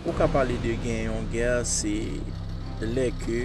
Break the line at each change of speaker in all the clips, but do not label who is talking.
Ou ka pale de gen yon gè se lè ke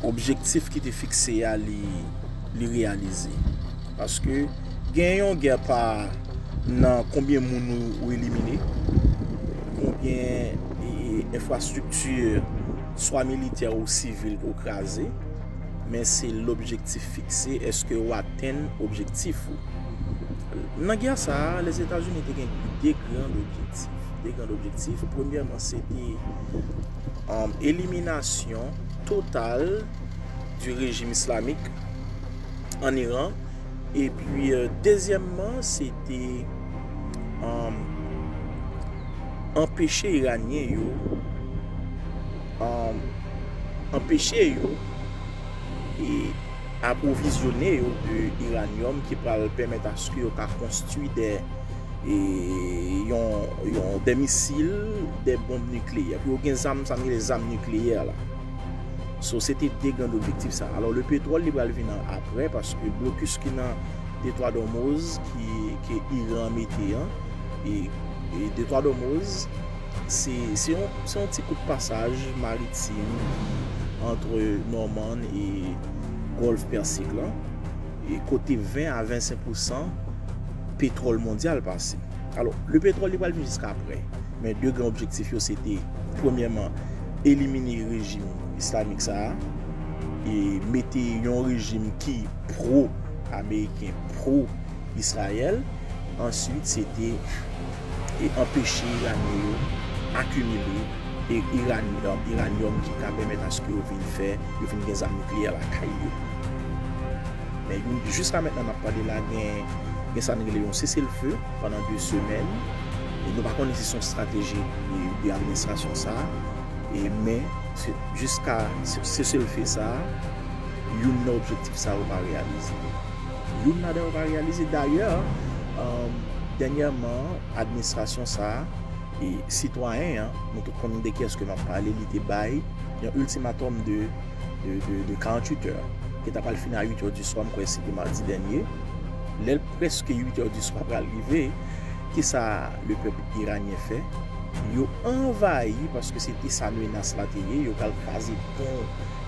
objektif ki te fikse a li reyalize. Paske gen yon gè pa nan konbyen moun ou elimine, konbyen enfrastrikti swa militè ou sivil ou kraze, men se l objektif fikse eske ou atenn objektif ou. Nan gè sa a, Lèzetazini te gen de grand objektif. De grand objektif, premyèman, se te eliminasyon total di rejim islamik an Iran. E pi, dezyèmman, se te anpeche Iranyen yo, anpeche yo, e... apwovizyone yo de iranyòm ki pral pèmèt aske yo ka konstwi de yon de misil, de bonb nikleyè. Pou yo gen zam, sa nou rele zam nikleyè la. So, se te de grand objektif sa. Alò, le petwòl li pral vin an apre, paske blokis ki nan detwa Dòmoz, ki iran mete an, e detwa Dòmoz, Se yon ti kout pasaj maritim ki antre Nòmann e Gòlf Pèsik la, e kote 20 a 25 pousan petwòl mondyal pase. Alò, le petwòl li pral vin jiska aprè, men 2 gran objektif yo se te, premyèman, elimine rejim islamik sa a, e mete yon rejim ki pro-ameriken, pro-Israël, answit se te. e anpeche Iranyen yo akimile iranyòm ki ka pèmèt aske yo vin fè, yo vin gen zam nikleyè lakay yo. Men yon, jiska mètnan nap pale la gen gen sa n rele yon sese l fe pandan 2 semèn e nou pa konnen si son strateji de administrasyon sa e men jiska sese l fe sa youn nan objektif sa yo pa reyalize. Youn ladan yo pa reyalize. Dayè, dènyèman, administrasyon sa a, e sitwayen an, nou tout konnen de kiyès ke m ap pale, li te bay yon iltimatòm de 48 è, ki ta pral fini a 8 è di swa, m kwè se te madi dènye. Lè l prèske 8 è di swa pral rive, ki sa le pèp iranyen fè? Yo anvayi, paske se te sa menas la te ye, yo pral kraze pon,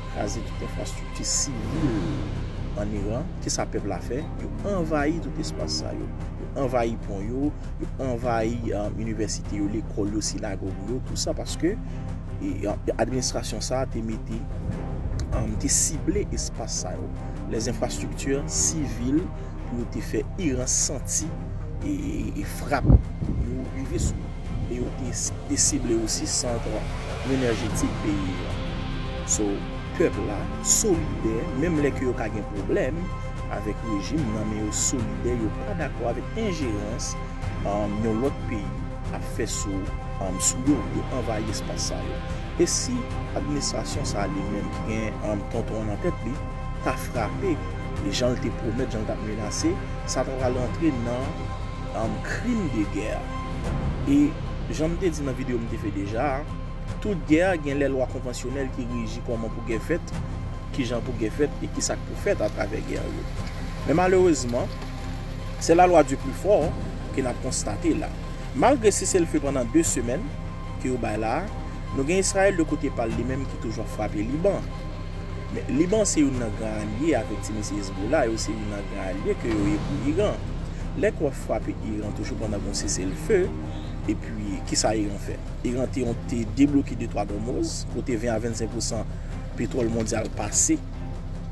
Kraze tout enfrastrikti sivil an Iran. Kisa pèp la fè? Yo anvayi tout espas sa yo. Yo anvayi pon yo, yo anvayi inivèsite yo, lekòl yo, sinagòg yo. Tout sa paske administrasyon sa a te mete, te sible espas sa yo. Lè enfrastrikti sivil pou yo te fè Iran santi frap yo rive sou yo. e yo te sible osi sant renerjetik peyi yo a. So, pèp la solidè menm lè ke yo ka gen pwoblèm avèk rejim nan men yo solidè yo pa dakò avèk enjerans yon lòt peyi ap fè sou sou yo pou yo anvayi espas sa yo. E si administrasyon sa a li menm ki gen tonton an nan tèt li ta frape jan l te pwomèt jan l t ap menase sa ta pral antre nan Krim de gè E jan m te di nan videyo m te fè deja a, tout gè gen lè lwa konvansyonèl ki reji kòman pou gè fèt, ki jan pou gè fèt e ki sa k pou fèt atravè gè yo. Men malerezman, se la lwa di pli fò ke n ap konstate la. Malgre seselfe pandan 2 semèn ke yo bay la a, nou gen Israel de kote pa l li menm ki toujou ap frape Liban. Men, Liban se youn nan gran alye avèk ti mesye Hezbollah yo, se youn nan gran alye ke yo ye pou Iran. Lè ke w ap frape Iran toujou pandan gen yon seselfe, epi kisa Iran fè? Iran te yon te debloke de twa gòmoz, kote 20 a 25 pousan petwòl mondyal pase,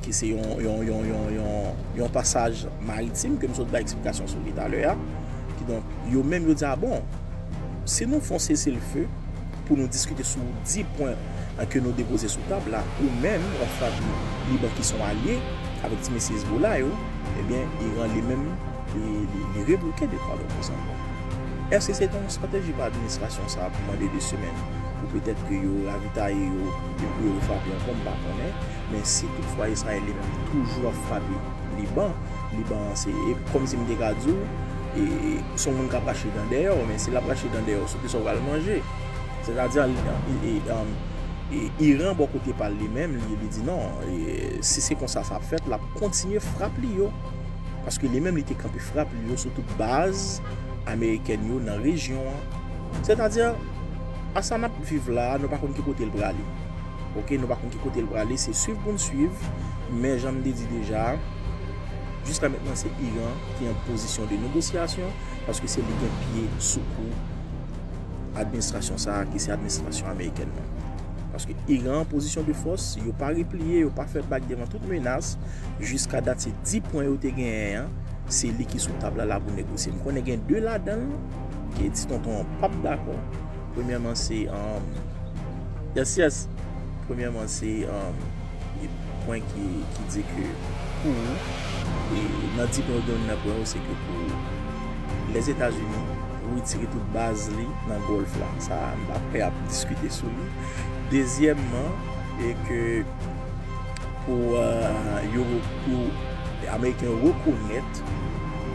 ki se yon, yon, yon, yon, yon, yon pasaj maritim ke m sot bay eksplikasyon sou li talè a. Kidonk, yo menm yo di a bon, si nou fè yon seselfe, pou nou diskite sou 10 pwen ke nou depoze sou tab la, ou menm ou an favi Liban ki son alye avèk ti mesye Hezbollah yo, ebyen Iran li menm li rebloke de pal opozan yo. Eske se ta yon strateji pou administrasyon sa pou mande 2 semèn pou petèt ke yo ravitaye yo e pou yo refrape ankò m pa konnen, men si tout fwa Israel li menm toujou ap frape Liban, Liban an se kòm si m te ka di w se yon moun kap rache dan dèyè w, men si lap rache dan dèyè w. ki sa w pral manje. Sètadi, Iran bò kote pa l li menm, li di non, si se konsa sa ap fèt, l ap kontinye frap li yo. Paske li menm li te kanpe frap li yo sou tout baz amerikèn yo nan rejyon an. Sètadi, a sa n ap viv la, nou pa konn ki kote l prale. Ok, nou pa konn ki kote l prale, se swiv pou n swiv. Men jan m te di deja, jiska mentnan se Iran ki an pozisyon de negosyasyon. Paske se li gen pye sou kou administrasyon sa a ki se administrasyon amerikèn nan. Paske Iran an pozisyon de fòs, yo pa repliye, yo pa fè bak devan tout menas, jiska dat se 10 pwen yo te genyen an, se li ki sou tab la la pou negosye. M konnen gen 2 ladan l, ke ti tonton an pap dakò. Premyèman se, yes yes, premyèman se. e pwen ki di ke pou ou, e nan di pwen yo gen youn nan pwen yo se ke pou Lèzetazini retire tout baz li nan Gòlf la, sa a m pa prè ap diskite sou li. Dezyèmman, e ke pou yo, pou Ameriken yo rekonèt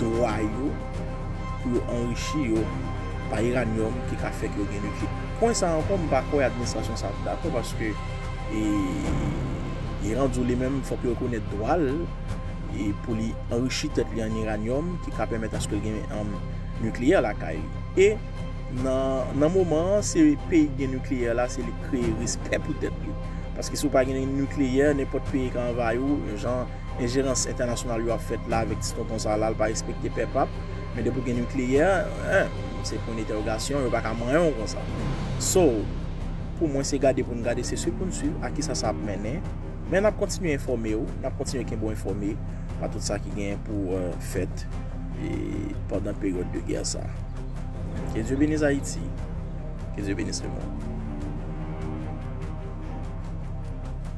dwa yo pou yo anrichi yo pa iranyòm ki ka fè ke yo gen nikle. Pwen sa a ankò m pa kwè administrasyon sa a ap dakò paske. E Iran di w li menm fòk li rekonèt dwa l pou li anrichi tèt li an iranyòm ki ka pèmèt aske l gen am nikleyè lakay li. E nan moman an se peyi ki gen nikleyè la se li k kreye rispè pou tèt li. Paske si w pa gen nikleyè nenpòt peyi ka anvayi w jan Enjerans entènasyonal yo ap fèt la avèk ti tonton sa la, l pa respekte pè pap, men depi w gen nikleyè, hein, se pwen detèwogasyon, yo pa ka manyen w konsa. So, pou mwen se gade pou n gade, se swiv pou n swiv a kisa sa ap mennen, men n ap kontinye enfòme w, n ap kontinye kenbe w enfòme a tout sa ki genyen pou fèt pandan peryòd de gè sa. Ke Dye beniz Ayiti, ke Dye beniz lemond.